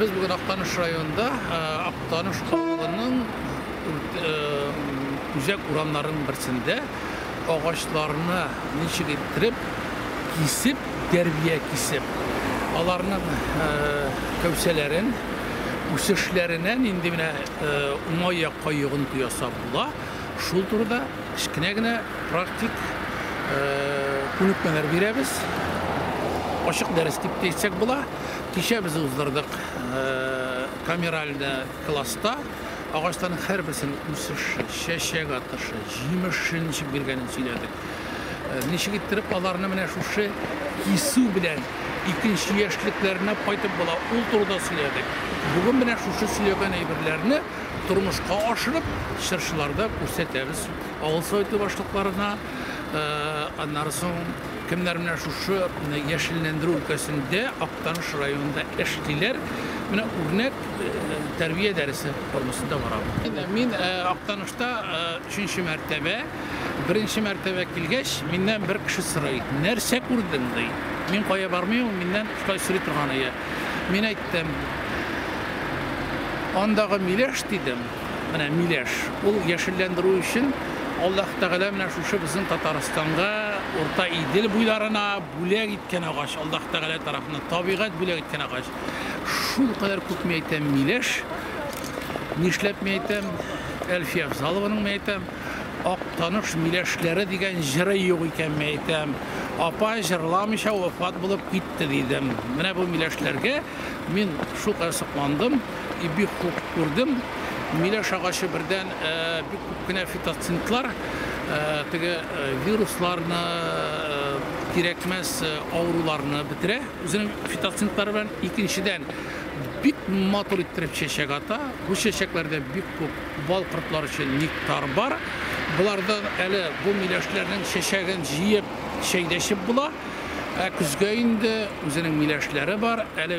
Без бүген Актаныш районында Актаныш авылының үзәк урамнарының берсендә агачларны ничек иттереп кисеп, дәрбия кисеп, аларның кәүсәләрен үсешләренә нинди менә уңай якка йогынты ясап була, шул турыда кечкенә генә практик күнекмәләр бирәбез. Ачык дәрес дип тә әйтсәк була. Кичә без уздырдык камеральдә класста агачларның һәрберсенең үсеше, чәчәк атышы, җимеше ничек биргәнен сөйләдек. Ничек иттереп аларны менә шушы кисү белән икенче яшьлекләренә кайтып була, ул турыда сөйләдек. Бүген менә шушы сөйләгән әйберләрне тормышка ашырып, чыршыларда күрсәтәбез. Авыл советы башлыкларына, аннары соң Кемнәр менә шушы яшелләндерү өлкәсендә Актаныш районында эшлиләр? Менә үрнәк тәрбия дәресе формасында бара. Мин Актанышта өченче мәртәбә, беренче мәртәбә килгәч, миннән бер кеше сорый, нәрсә күрдең ди. Мин кая бармыйм, миннән шулай сорый торган ия. Мин әйттем, андагы миләш дидем. Менә миләш. Ул яшелләндерү өчен Аллаһ Тәгалә менә шушы безнең Татарстанга, Урта Идел буйларына бүләк иткән агач, Аллаһ Тәгалә тарафыннан табигать бүләк иткән агач. Шул кадәр күп мин әйтәм миләш. Нишләп мин әйтәм? Әлфия Афзалованың мин әйтәм, Актаныш миләшләре дигән җыры юк икән мин әйтәм. Апа җырламыйча вафат булып китте дидем. Менә бу миләшләргә мин шул кадәр сокландым. И бик күп күрдем. Миләш агачы бердән бик күп кенә фитоцинтлар, теге вирусларны, кирәкмәс авыруларны бетерә үзенең фитоцинтлары белән. Икенчедән, бик матур иттереп чәчәк ата. Бу чәчәкләрдә бик күп бал кортлар өчен нектар бар. Болардан әле бу миләшләрнең чәчәген җыеп, чәй дә эчеп була. Ә көзгә инде үзенең миләшләре бар. Әле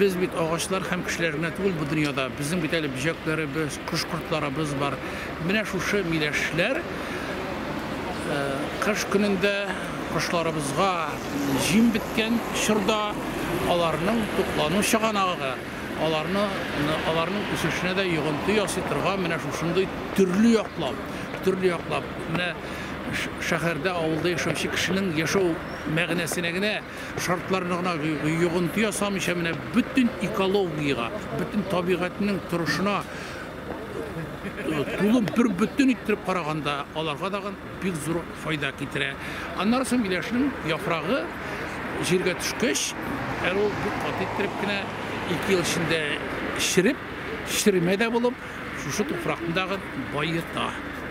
Без бит агачлар һәм кешеләр генә түгел бу дөньяда. Безнең бит әле бөҗәкләребез, кош-кортларыбыз бар. Менә шушы миләшләр э, кыш көнендә кошларыбызга җим беткән чорда аларның туклану чыганагы, аларны аларның үсешенә дә йогынты ясый торган менә шушындый төрле яклап, төрле яклап менә шәһәрдә, авылда яшәүче кешенең яшәү мәгънәсенә генә Шартларны гына йогынты ясамыйча, менә бөтен экологиягә, бөтен табигатьнең торышына тулы бер бөтен иттереп караганда, аларга да бик зур файда китерә. Аннары соң миләшнең яфрагы җиргә төшкәч, әле ул бик каты иттереп кенә ике ел эчендә череп, черемә дә булып, шушы туфракны тагын баета.